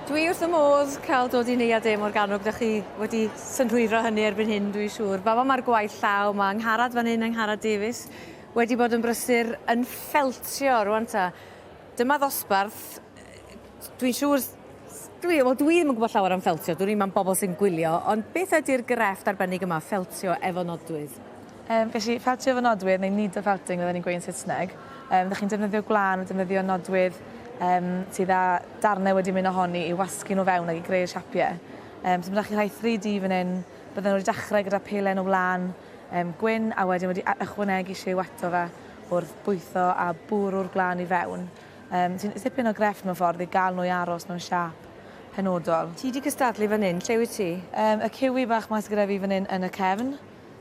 Dwi wrth fy modd cael dod i Neuadd De Morgannwg, da chi wedi synhwyro hynny erbyn hyn dwi'n siŵr. Fama mae'r gwaith llaw, mae Angharad fan hyn, Angharad Davies, wedi bod yn brysur yn ffeltio rwan ta. Dyma ddosbarth, dwi'n siŵr Dwi, wel dwi ddim yn gwybod llawer am ffeltio, dwn i'm am bobl sy'n gwylio, ond beth ydy'r grefft arbennig yma, ffeltio efo nodwydd? Yym, felly, ffatio efo nodwydd, neu needle felting fel 'yn ni'n gweud yn Saesneg. Yym, 'dach chi'n defnyddio gwlân, defnyddio nodwydd yym sydd â darnau wedi mynd ohoni i wasgu nhw fewn ac i greu'r siapie. Yym, so ma' 'da chi rhai 3D fan hyn, bydden nhw wedi dechrau gyda pelen o wlân yym gwyn a wedyn wedi a- ychwanegu lliw ato fe wrth bwytho a bwrw'r gwlân i fewn. Yym, sy'n tipyn o grefft mewn ffordd i gael nhw i aros mewn siâp penodol. Ti 'di cystadlu fan hyn, lle wyt ti? Yym, y ciwi bach 'ma sy gyda fi fan hyn yn y cefn.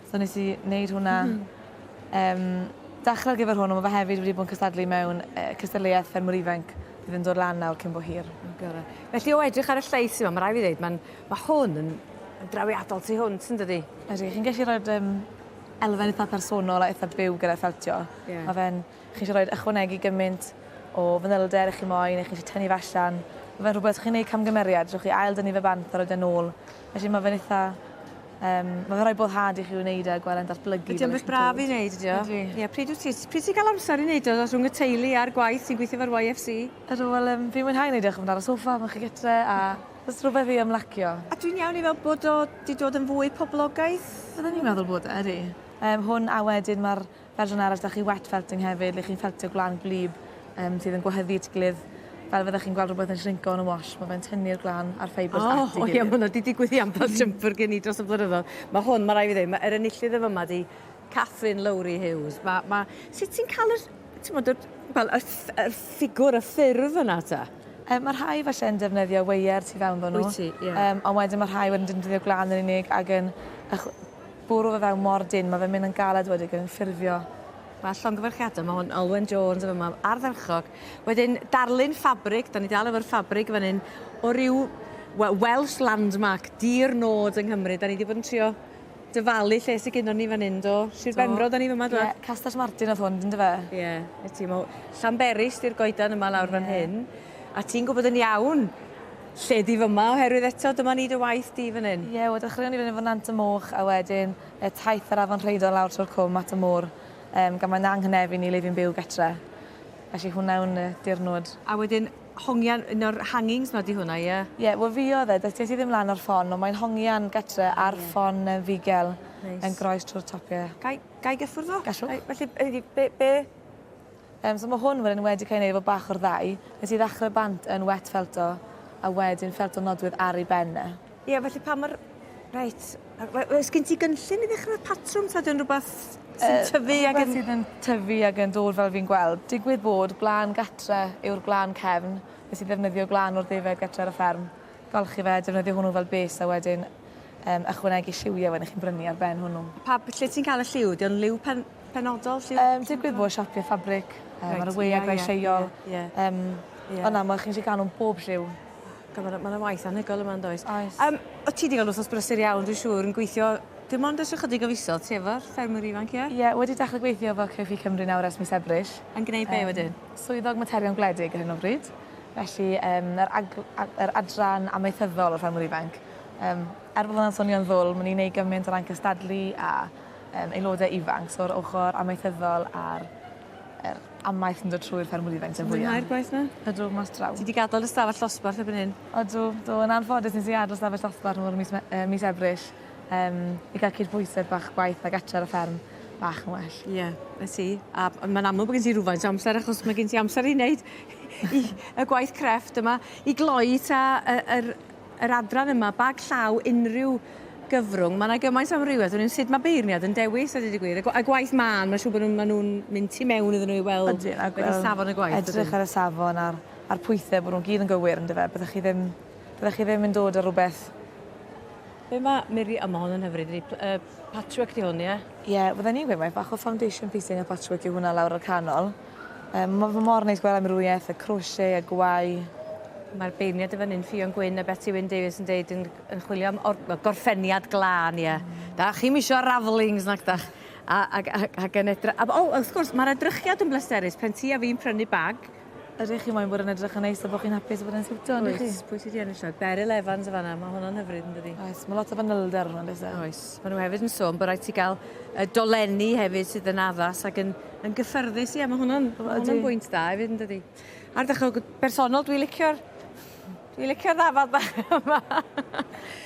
So nes i wneud hwnna. Yym dechre ar gyfer hwn on' ma' fe hefyd wedi bod yn cystadlu mewn yy cystadleuaeth ffermwr ifanc fydd yn dod lan nawr cyn bo hir. O gore. Felly o edrych ar y llais yma ma' rai' fi ddeud ma'n ma' hwn yn yn drawiadol tu hwnt yndydi? Ydi chi'n gellu roid yym elfen itha personol a itha byw gyda ffeltio. Ie. Ma' fe'n Chi eisiau rhoi ychwanegu gymaint o fanylder ych chi moyn neu chi eisiau tynnu fe allan. Mae fe'n rhywbeth chi'n gwneud camgymeriad, rhowch chi ail-dynnu fe bant a rhoi fe'n ôl. Felly mae fe'n eitha... Yym, mae fe'n rhoi boddhad i chi wneud e a gweld e'n datblygu fel ych chi'n dweud. Ydy o'n beth braf i wneud, ydy o? Ydy. Ie, pryd wyt ti... pryd ti'n cael amser i wneud o, rhwng y teulu a'r gwaith ti'n gweithio efo'r YFC? Ydw, wel yym, fi'n mwynhau wneud e, chimod, ar y soffa pan chi gytre a jyst rhywbeth i ymlacio. A dwi'n iawn i feddwl bod o 'di dod yn fwy poblogaidd? Byddwn i'n meddwl bod e, ydy. Yym, hwn a wedyn ma'r Fel rhan arall, da chi wet felting hefyd, le chi'n feltio gwlân gwlyb um, sydd yn gwahyddu at ei gilydd. Fel fydda chi'n gweld rhywbeth yn shrinco yn y wash, mae fe'n tynnu'r gwlân a'r ffeibrs oh, at ei gilydd. O, ie, mae hwnna wedi digwydd i ambell jumper gen i dros y blynyddoedd. Mae hwn, mae rai fi ddweud, mae'r enillydd y fyma di Catherine Lowry Hughes. Mae, mae, sut ti'n cael yr, ti'n bod, yr, well, yr, yr ffigwr, y ffurf yna ta? Um, mae rhai falle yn defnyddio weier tu fewn ddo nhw. Wyt ti, ie. Yeah. Um, ond wedyn mae rhai wedyn yn defnyddio glan yn unig ac yn Bwrw fe fewn mor dynn, mae fe'n mynd yn galed wedyn gyda'n ffurfio. Mae llongyfarchiadau, mae hwn Alwen Jones yn fama, ardderchog. Wedyn darlun ffabrig, da ni dal efo'r ffabrig fan hyn, o ryw wel, Welsh landmark, dir nod yng Nghymru. Da ni wedi bod yn trio dyfalu lle sy gynnon ni fan hyn, do? Sir Do. Benfro, da ni fama, do? Ie, Castell Martin oedd hwn, yndyfe? Ie, 'na ti, mae Llanberis di'r goedan yma lawr fan hyn. A ti'n gwybod yn iawn Lle di fyma oherwydd eto dyma ni dy waith di fan hyn. Ie wel dechreuon ni fan hyn efo Nant y Moch a wedyn yy taith yr Afon Rheidol lawr trwy'r cwm at y môr yym gan mae 'na anghynefu ni le fi'n byw getre. Felly hwnna yw'n yy dirnwd. A wedyn hongian un o'r hangings 'ma di hwnna ie? Ie wel fi oedd e doedd ges i ddim lan o'r ffon ond mae'n hongian getre ar ffon yy Fugel yn groes trwy'r top ie. Gai gai gyffwrdd o? Gallwch. Felly yy be be Yym so ma' hwn wedyn yn wedi cael ei wneud efo bach o'r ddau. Nes i ddechrau bant yn wet felt o a wedyn felt o nodwydd ar ei ben e. Ie felly pa mor... Reit. We- we- oes gen ti gynllun i ddechrau'r patrwm ta ydy o'n rhywbeth sy'n tyfu ag yn... Yy rhywbeth sydd yn tyfu ag yn dod fel fi'n gweld. Digwydd bod gwlân gatre yw'r gwlân cefn. Nes i ddefnyddio gwlân o'r ddefaid gatre ar y fferm. Golchi fe a defnyddio hwnnw fel base a wedyn yym ychwanegu lliwiau wedyn chi'n brynu ar ben hwnnw. Pa... Lle ti'n cael y lliw? Ydy o'n liw pen... penodol lle... Yym digwydd bod siopie ffabrig yy ma' 'na wei a gwei lleol. Ie ie. Yym. Ie. Ond na ma' chi'n gallu ca'l nw'n bob lliw. Go- ma' 'na ma' 'na waith anhygoel yma yndoes? Oes. Yym o' ti 'di ga'l wthnos brysur iawn dwi siŵr yn gweithio dim ond ers ychydig o fisoedd ti efo'r ffermwr ifanc ie? Ie wedi dechre gweithio efo Cyrff i Cymru nawr ers mis Ebrill. Yn gneud be' wedyn? Yym swyddog materion gwledig ar hyn o bryd. Felly yym yr agl- a- yr adran amaethyddol o'r ffermwr ifanc. Yym er bo' hwnna'n swnio'n ddwl ma' ni'n neu' gyment o ran cystadlu a yym aelodau ifanc so yr ochor amaethyddol a'r yr amaeth yn dod trwy'r ffermwr ifainc sy'n fwya. Ti'n mwynhau'r gwaith 'na? Ydw, mas draw. Ti 'di gadel dy stafell ddosbarth erbyn hyn? Ydw, do yn anffodus nes i adel stafell ddosbarth nôl ym mis Me- yy mis Ebrill yym i ga'l cydbwysedd bach gwaith a gartre ar y fferm bach yn well. Ie, 'na ti. A b- ma'n amlwg bo' gen ti rwfaint o amser achos ma' gen ti amser i neud y gwaith crefft yma. I gloi 'ta yy yr yr adran yma, bag llaw unrhyw gyfrwng. Mae yna gymaint o amrywiaeth. Dwi'n sut mae beirniad yn dewis, a dweud y gwir. A gwaith mân, mae'n siŵr bod nhw'n nhw mynd tu mewn iddyn nhw i weld Ydyn, ac, beth safon y gwaith. Edrych ar y safon a'r, a'r pwythau, bod nhw'n gyd yn gywir, yn dyfe. Byddech chi ddim, byddech chi ddim yn dod ar rhywbeth... Be mae Miri... O, mae hon yn hyfryd, ydy. Pl uh, patchwork di hwn, ie? Ie, fydden i'n gweud mae bach o foundation piecing a patchwork yw hwnna lawr o'r canol. Yy ma' fe mor neis gwel' amrywieth y crochet a gwau. Mae'r beirniad yn fan 'yn Ffion Gwyn a Beti Wyn Davies yn deud yn yn chwilio am or- wel gorffeniad glân ie. Dach chi'm isio ravelings nag dach? A ag a ag yn edry- a b- o wrth gwrs ma'r edrychiad yn bleserus pan ti a fi'n prynu bag Ydych chi moyn bod yn edrych yn neis a bo' chi'n hapus a bod e'n siwtio yndych chi? Oes, pwy sy 'di ennill nawr? Beryl Evans yn fan 'na, ma' honno'n hyfryd yndydi? Oes, ma' lot o fanylder arno fe yndoes e? Oes, ma' nw hefyd yn sôn bo' raid ti ga'l yy dolenni hefyd sydd yn addas ag yn Yn gyffyrddus, ie, mae hwnna'n hwnna bwynt da hefyd yn dydi. Ar ddechrau bersonol, dwi'n licio'r dwi'n licio'r ddafad bach yma.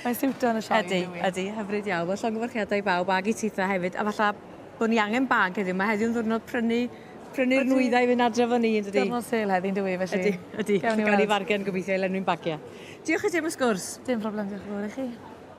Mae'n siwtio yn y sioe. Ydy, ydy, hyfryd iawn. Wel, llongyfarchiadau i bawb ag i Titha hefyd. A falla bod ni angen bag heddiw. Mae heddiw'n ddwrnod prynu prynu'r nwyddau i fynd adre fo ni, yn dydi? Dyrnod sel heddi'n dwi, felly. Ydy, ydy. Gawn ni fargen gobeithio i lenwi'n bagiau. Diolch i ti am y sgwrs. Dim problem, diolch yn fawr i chi.